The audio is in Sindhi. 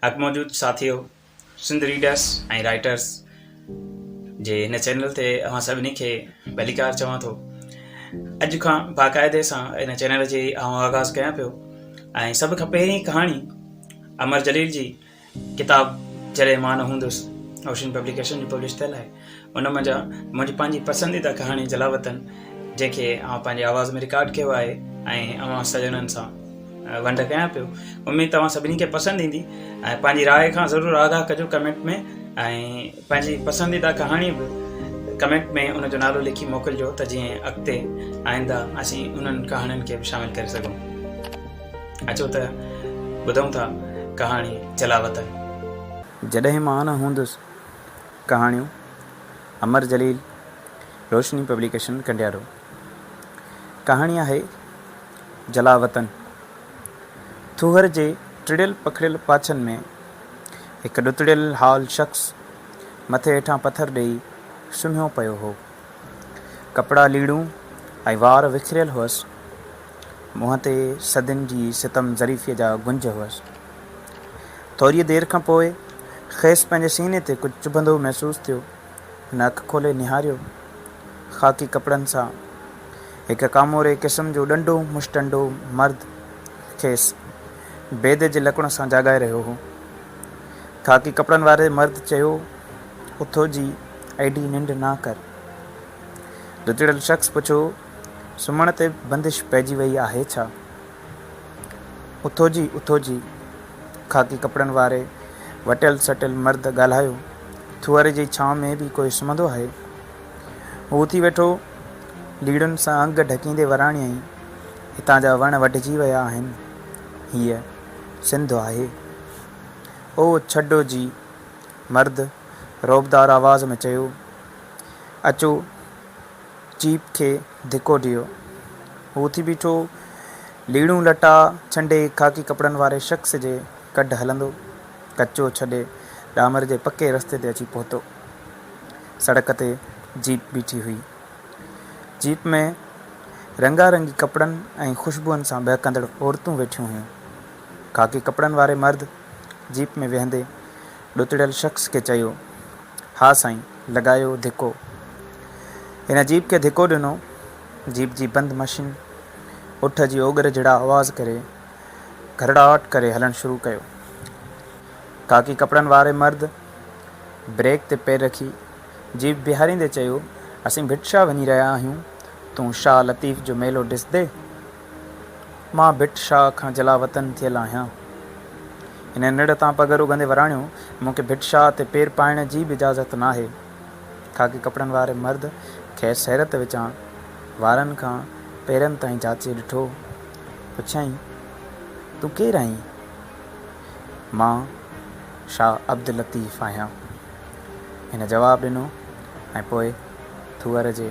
اڳ موجود ساٿيو سنڌ ريڊرس ۽ رائيٽرس جي هن چينل تي اوهان سڀني کي ڀليڪار چوان ٿو اڄ کان باقاعدي سان هن چينل جي آئون آغاز ڪيان پيو ۽ سڀ کان پهرين ڪهاڻي امر جليل جي ڪتاب جڏهن مان نه هوندس اوشن پبليڪيشن جي پبلش ٿيل آهي ان منجھان منھنجي پنھنجي پسنديده ڪهاڻي جلاوطن جنھن کي آئون پنھنجي آواز ۾ رڪارڊ ڪيو آهي ۽ اوهان سڄڻن سان ونڊ ڪيان پيو اميد توهان سڀني کي پسند ايندي ۽ پنھنجي راء کان ضرور آگاهه ڪجو ڪمينٽ ۾ ۽ پنھنجي پسنديده ڪهاڻي به ڪمينٽ ۾ ان جو نالو لکي موڪلجو ته جيئن اڳتي آئنده اسين انهن ڪهاڻين کي به شامل ڪري سگهون اچو ته ٻڌون ٿا ڪهاڻي جلاوطن جڏهن مان نه هوندس ڪهاڻيون، امر جليل، روشني پبليڪيشن ڪنڊيارو. ڪهاڻي آهي جلاوطن. ٿوهر جي ٽڙيل پکڙيل پاڇن ۾ هڪ ڏتڙيل حال شخص مٿي هيٺان پٿر ڏيئي سمهيو پيو هو. ڪپڙا ليڙون ۽ وار وکريل هئس. منهن تي صدين جي ستم ظريفيء جا گنج هئس. ٿوريء دير کان پوء کيس پنهنجي سيني تي ڪجهه چڀندو محسوس ٿيو. هن اک کولي نهاريو. خاڪي ڪپڙن سان هڪ ڪاموري قسم جو ڏنڊو مشٽنڊو مرد کيس بيدي جي لڪڻ سان جاڳائي رهيو هو. خاڪي ڪپڙن واري مرد چيو، اٿو جي ايڏي ننڊ نه ڪر. ڏچڙيل شخص پڇيو، سمهڻ تي بندش پئجي ويئي آهي ڇا؟ اٿوجي اٿوجي خاڪي ڪپڙن واري وٽيل سٽيل مرد ڳالهايو، ٿوهر جي ڇانو ۾ به ڪوئي سمهندو آهي؟ هو اٿي ويٺو، ليڙن سان انگ ڍڪيندي وراڻيائين، هتان جا وڻ وڍجي ويا آهن، هيء سنڌ آهي. او ڇڊو جي، مرد رعبدار آواز ۾ چيو، اچو، جيپ کي ڌڪو ڏيو. هو اٿي بيٺو. ليڙون لٽا ڇنڊي خاڪي ڪپڙن واري شخص جي ڪڍ هلندو، ڪچو ڇڏي ڏامر جي پڪي رستي تي اچي پهتو. سڙڪ تي جيپ بيٺي هئي. جيپ ۾ رنگا رنگي ڪپڙن ۽ خوشبوئن سان ٻهڪندڙ عورتون ويٺيون هيون. خاڪي ڪپڙن واري مرد جيپ ۾ ويهندي ڏتڙيل شخص کي چيو، ها سائين، لڳايو ڌڪو. هن جيپ کي ڌڪو ڏنو. جيپ جي بند مشين اٺ جي اوڳر جھڙا آواز ڪري، گھرڙاٽ ڪري هلڻ شروع ڪيو. خاڪي ڪپڙن واري مرد بريڪ تي پير رکي، جيپ بيهاريندي چيو، اسين ڀٽ شاهه وڃي رهيا آهيون، تون شاهه لطيف جو ميلو ڏسندين؟ مان ڀٽ شاهه کان جلاوطن ٿيل آهيان. هن نڙ تان پگهر اگهندي وراڻيو، مون کي ڀٽ شاهه تي پير پائڻ جي به اجازت ناهي. خاڪي ڪپڙن واري مرد کيس حيرت وچان وارن کان پيرن تائين جاچي ڏٺو. پڇيائين، تون ڪير آهين؟ مان شاهه عبداللطيف آهيان. هن جواب ڏنو ۽ پوء ٿوئر جي